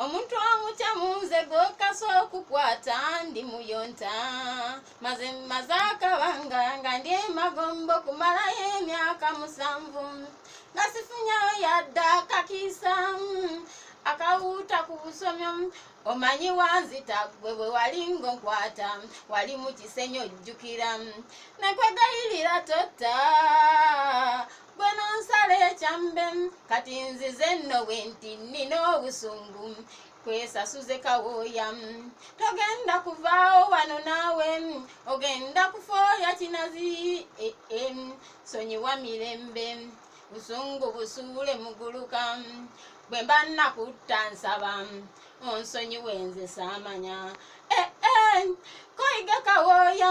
omuntu amutya munze gwokasa okukwata ndi muyonta maze maze akabanga nga ndi emagombo kumalayo emyaka musanvu nga sifunyayo yadde akakiisa akawuuta ku busomyo omanyi wanzita gwe bwe wali ngonkwata wali mu kisenyi ojjukira nakwegayirira totta gwe nonsala ekyambe kati nzize nno bwe nti nnina obusungu kwesasuze kawooya togenda kuvaawo wano naawe ogenda kufooya kinazi e, e, sonyiwa mirembe busungu busuule muguluka bwe mba nnakutta nsaba onsonyiwe nze saamanya e, koyiga kawooya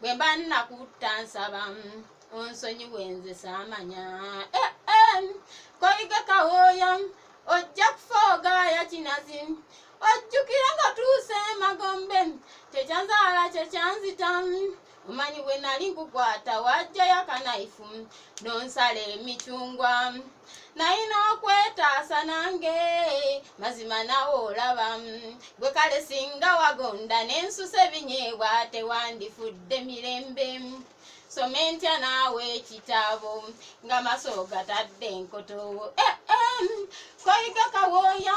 bwe mba nnakutta nsaba onsonyiwe nze saamanya eh, eh, koyige kawooya ojja kufa ogaaya kinazi ojjukira nga tuuse emagombe kyekyanzaala kyekyanzita omanyi bwe nali nkukwata wajjayo akanayifu nonsala emicungwa nayina okwetaasa nange mazima nawe olaba gwe kale singa wagonda nensusa ebinyeebwa tewandifudde mirembe soma entya naawe ekitabo nga maso gatadde enkotowo eh, eh, koyiga kawooya